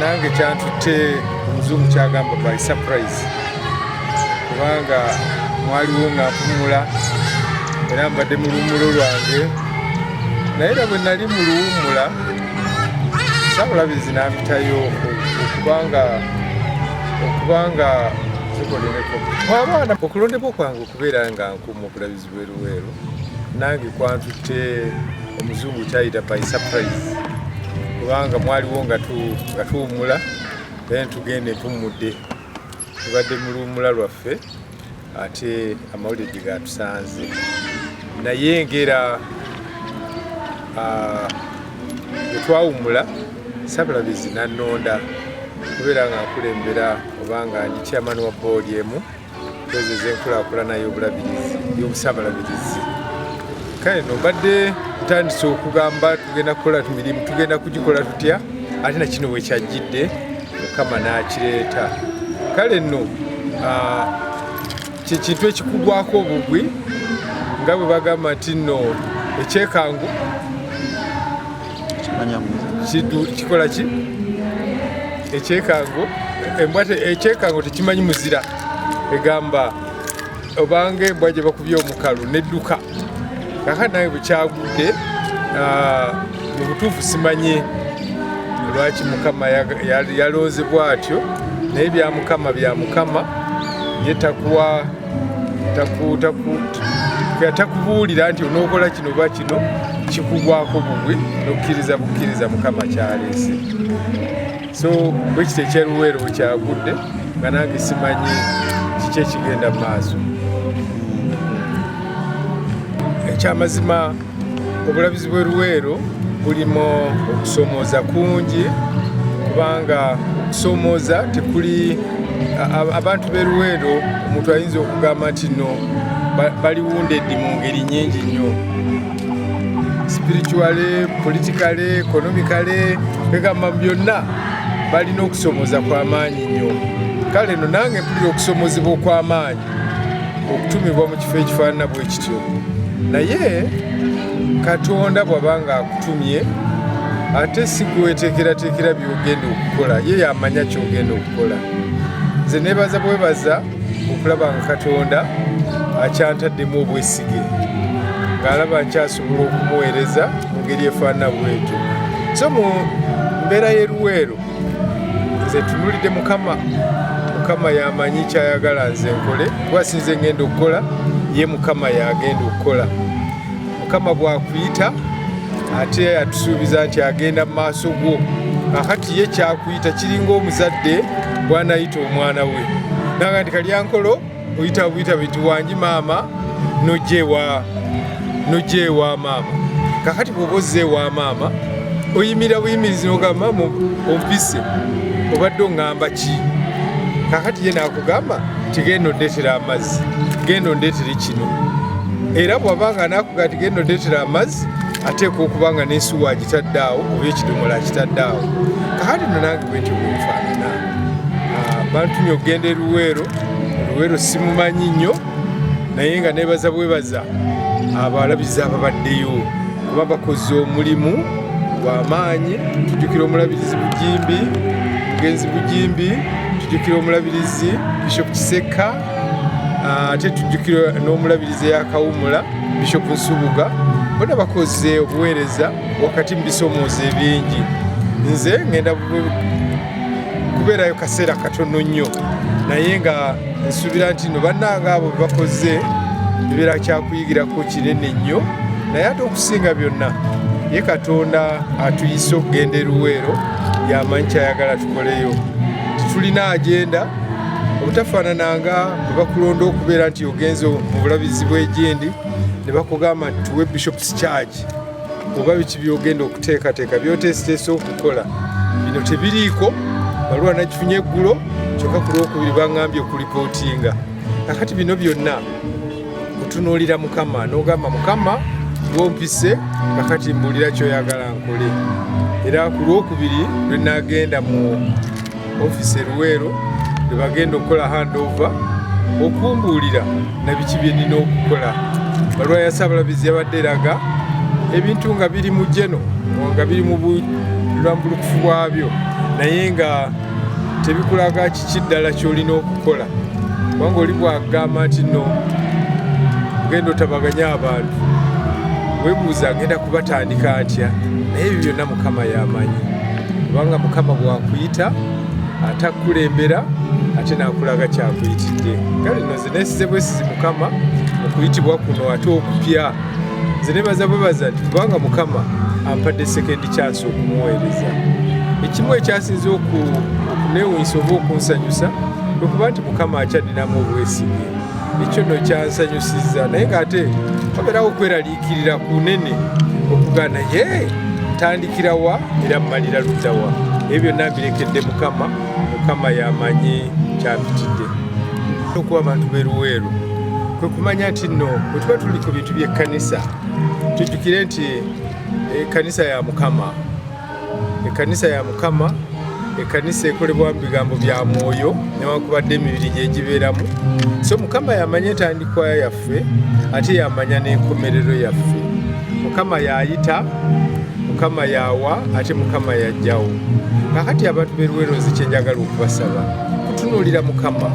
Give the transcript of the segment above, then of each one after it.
nange kyantutte omuzungu kyagamba by surprise kubanga mwaliwo nga mpumula era mbadde mu luwumulo lwange naye era bwe nali mu luwumula sabulabizi nampitayo okubanga okubanga zikoleleko abaana okulondebwa kwange okubeera nga nkumu okulabizi Luweruweru nange kwantutte omuzungu kyayita by surprise kubanga mwaliwo nga tuwumula naye ntugenda empummudde tubadde mu luwumula lwaffe ate amawulire gye gatusanze naye ngera ah, bwe twawumula sabulabizi nannonda kubeera nga nkulembera obanga ndi chairman wa boodi emu ezo ezenkulaakulana y'obulabirizi y'obusabalabirizi kale no mbadde ntandise okugamba tugenda kukola mirimu tugenda kugikola tutya ate na kino wekyajjidde mukama n'akireeta kale nno kyekintu ekikugwako obugwi nga bwe bagamba nti nno ekyekangu kikola ki ekyekango embwa ekyekango tekimanyi muzira egamba obanga embwa gye bakubye omukalu nedduka kaka nawe bukyagudde ah, mu butuufu simanyi lwaki mukama yalonze bwatyo naye bya mukama bya mukama yetakuwa takubuulira nti onookola kino oba kino kikugwako bugwi nokukkiriza bukkiriza mukama kyaleese so bwekiti ekyeruweero bwekyagudde nga nange simanyi kiki ekigenda mu maaso ekyamazima obulabizi bwe luweero bulimu okusomooza kungi kubanga okusomooza tekuli abantu be luweero omuntu ayinza okugamba nti no baliwundeddi mu ngeri nyingi nnyo spirituale politikale ekonomikale egamba mu byonna balina okusomooza kw'amaanyi nnyo kale no nange mpulira okusomozebwa okw'amaanyi okutumibwa mu kifo ekifaanana bwe kityo naye katonda bw'aba ng'akutumye ate si gweweteekerateekera by'ogenda okukola ye yamanya ky'ogenda okukola nze nebaza bwebaza okulaba nga katonda akyantaddemu obwesige ng'alaba nkyasobola okumuweereza mu ngeri efaanana bwetyo so mu mbeera y'eruweero nze tunulidde mukama mukama yamanyi kyayagala nze nkole kuba sinze ngenda okukola ye mukama yagenda okukola mukama bwakuyita ate atusuubiza nti agenda mu maaso gwo akati ye kyakuyita kiringa omuzadde bwanayita omwana we nanga nti kalyankolo oyita buyita bintu wangi maama nojewa nojewa maama kakati bwoba ozze ewa maama oyimira buyimirizi nogamba maama ompise obadde ongamba ki kakati ye nakugamba tigenda ondetera amazzi genda ondetere kino era bwabanga nakuga tigenda ondetera amazzi ateekwa okuba nga nensuwa agitadde awo oba ekidomola akitadde awo kakati nonange bwentyo bwenfaanana bantumye okugenda eruweero eruweero simumanyi nnyo naye nga nebaza bwebaza abalabizi ababaddeyo kuba bakoze omulimu gwamaanyi tujukira omulabirizi bujimbi mugenzi bujimbi tujukira omulabirizi bishop kiseka ah, ate tujukira n'omulabirizi eyakawumula bishop nsubuga bona bakoze obuweereza wakati mu bisomooza ebingi nze ngenda kubeerayo kaseera katono nnyo naye nga nsuubira nti no bannanga abo bebakoze ebeera kyakuyigirako kinene nnyo naye ate okusinga byonna ye katonda atuyise okugenda eruweero yamanyi kyayagala tukoleyo titulina agenda obutafaanana nga bwe bakulonda okubeera nti ogenze mu bulabizi bw'egyendi ne bakugamba nti tuwe bishops charge oba biki byogenda okuteekateeka byoteesiteesa okukola bino tebiriiko baluwa nakifunye eggulo kyokka ku lwokubiri baŋambye okulipootinga kakati bino byonna otunuulira mukama n'ogamba mukama wompise kakati mbuulira kyoyagala nkole era ku lwokubiri lwe nagenda mu ofisi eruweero bebagenda okukola handover okumbuulira nabiki byenina okukola balwa ya sabalabizi yabadde eraga ebintu nga biri mu jeno nga biri mu bulambulukufu bwabyo naye nga tebikulaga kiki ddala kyolina okukola kubanga oli bwagamba nti no ogenda otabaganya abantu webuuza agenda kubatandika atya naye ebyo byonna mukama yamanyi kubanga mukama bwakuyita atakukulembera ate nakulaga kyakuyitidde kale no zinesize bwesizi mukama okuyitibwa kuno ate okupya nze nebaza bwebaza nti kubanga mukama ampadde sekendi kyansi okumuweereza ekimu ekyasinze okunewunyisa oba okunsanyusa okuba nti mukama akyadinamu obwesige ekyo no kyansanyusiza naye ngaate oberawo okwerali Kirira kunene okugana ye tandikira wa era mmalira ludda wa ebyo byonna mbirekedde mukama mukama yamanyi kyabitidde okuba abantu beruweeru kwe kumanya nti nno bwe tuba tuli ku bintu by'ekkanisa tujjukire nti ekkanisa eh, ya mukama ekkanisa ya mukama ekkanisa ekolebwamu bigambo bya mwoyo newankubadde emibiri gyegibeeramu so mukama yamanya entandikwa yaffe ate yamanya n'enkomerero yaffe mukama yayita mukama yawa ate mukama yajjawo kakati abantu beruwerozi kyenjagala okubasaba kutunuulira mukama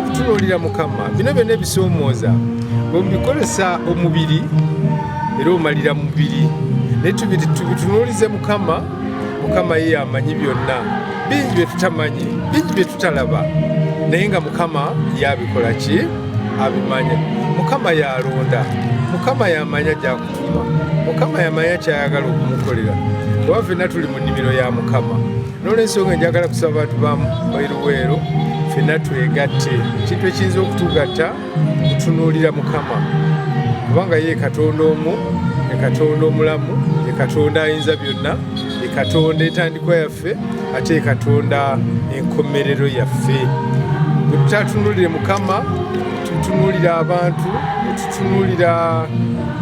kutunuulira mukama bino byona ebisoomooza bwemubikozesa omubiri era omalira mubiri naye tubitunuulize mukama mukama ye yamanyi byonna bingi bye tutamanyi bingi bye tutalaba naye nga mukama yabikola ki abimanya mukama yalonda mukama yamanya gyakutuma mukama yamanya kyayagala okumukolera oba fenna tuli mu nnimiro ya mukama nolwensonga enjagala kusaba bantu bamu bairuweero fenna twegatte ekintu ekiyinza okutugatta tutunuulira mukama kubanga ye katonda omu ekatonda omulamu ekatonda ayinza byonna ekatonda entandikwa yaffe ate ekatonda enkomerero yaffe bwetutatunulire mukama tutunulira abantu netutunulira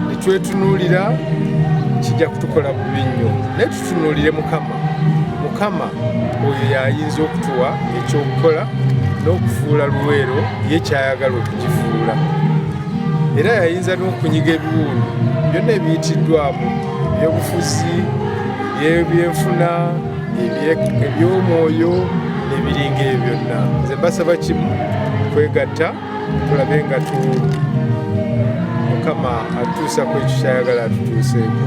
netwetunulira kijja kutukola bubi nnyo tunuulire mukama mukama oyo yayinza okutuwa ekyokukola n'okufuula luweero ye kyayagala okugifuula era yayinza n'okunyiga ebiwundu byonna ebiyitiddwamu ebyobufuzi ebyenfuna ebyomwoyo ebiringa ebyo byonna nze mbasaba kimu kwegatta tulabe nga tu mukama atuusa ku ekyo kyayagala atutuuseeko